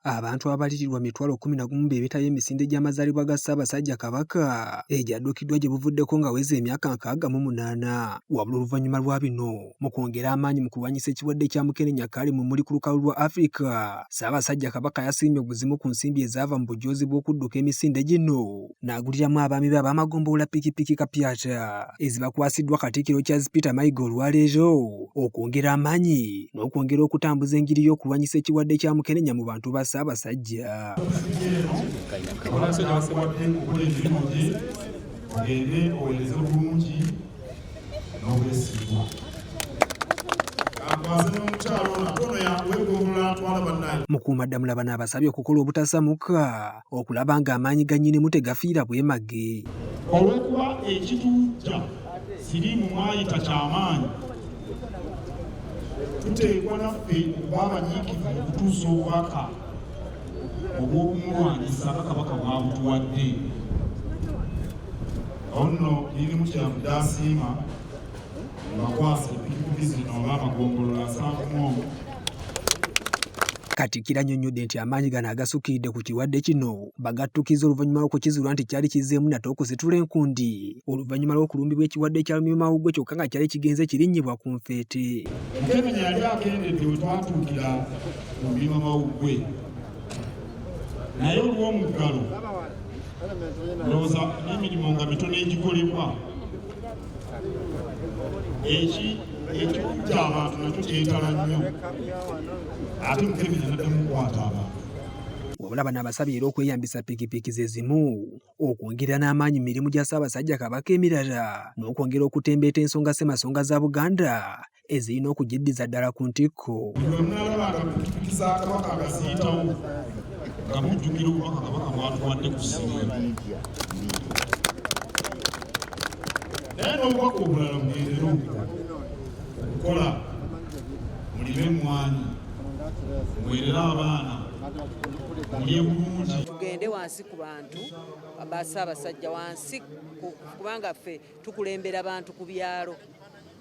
abantu ababalirirwa mitwalo kkumi na gumu be beetabye emisinde gy'amazaalibwa ga Ssaabasajja Kabaka egyadduukiddwa gye buvuddeko ng'aweza emyaka nkaaga mu munaana wabula oluvannyuma lwa bino mu kwongera amaanyi mu kulwanyisa ekirwadde kya mukenenya kaali mu muli ku lukalu lwa Afrika Ssaabasajja Kabaka yasiimye obuzimu ku nsimbi ezaava mu bujoozi bw'okudduka emisinde gino n'aguliramu abaami be ab'amagombolola pikipiki kapyata ezibakwasiddwa Katikkiro Charles Peter Mayiga olwaleero okwongera amaanyi n'okwongera okutambuza enjiri y'okulwanyisa ekirwadde kya mukenenya mu bantu ba Ssaabasajja. Ogende owereze bulungi n'obwesigwa. Mukuumaddamula bano abasabye okukola obutasamuka okulaba ng'amaanyi ga nnyinimu tegafiira bwemage. Olw'okuba ekituuja siriimu mwayita ky'amaanyi, tuteekwa naffe okuba abanyiikivu mu kutuusa obubaka obw'okumulwanyisa nga Kabaka bw'abutuwadde. Awo nno nnyinimu kye yavudde asiima mbakwasa epikipiki zino olw'amagombolola nsanvu mu omu Katikkiro annyonnyodde nti amaanyi gano agasukkiridde ku kirwadde kino bagattukizza oluvannyuma lw'okukizuula nti kyali kizzeemu nate okusitula enkundi oluvannyuma lw'okulumbibwa ekirwadde kya lumiimamawuggwe kyokka nga kyali kigenze kirinnyibwa ku nfeete. Mukenenya yali akendedde we twatuukira ku lumiimamawuggwe naye olw'omuggalo ndowooza n'emirimu nga mitono egikolebwa eki ekyokutta abantu nakyo kyetala nnyo ate mukebeza naddamu kukwata abantu wabula bano abasabye era okweyambisa pikipiki ze zimu okwongera n'amaanyi mu mirimu gya ssaabasajja kabaka emirala n'okwongera okutembeeta ensonga ssemasonga za buganda ezirina okugiddiza ddala ku ntikko. naye n'obubaka obulala mugendere okukola mulime emmwanyi muwerere abaana mulye bulungi tugende wansi ku bantu ba ssaabasajja wansi kubanga ffe tukulembera bantu ku byalo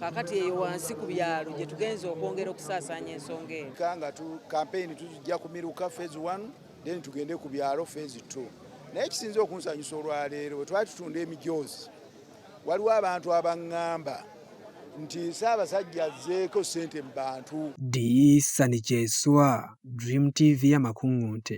kakati eyo wansi ku byalo gye tugenze okwongera okusaasaanya ensonga eyo nga kampeyini tujja kumiruka phase 1 then tugende ku byalo phase 2 naye kisinze okunsanyusa olwaleero bwe twali tutunda emijoozi waliwo abantu abaŋŋamba nti Ssaabasajja azzeeko ssente mu bantu. Ddi Sani Kyeswa, Dream TV y'amakuŋŋunte.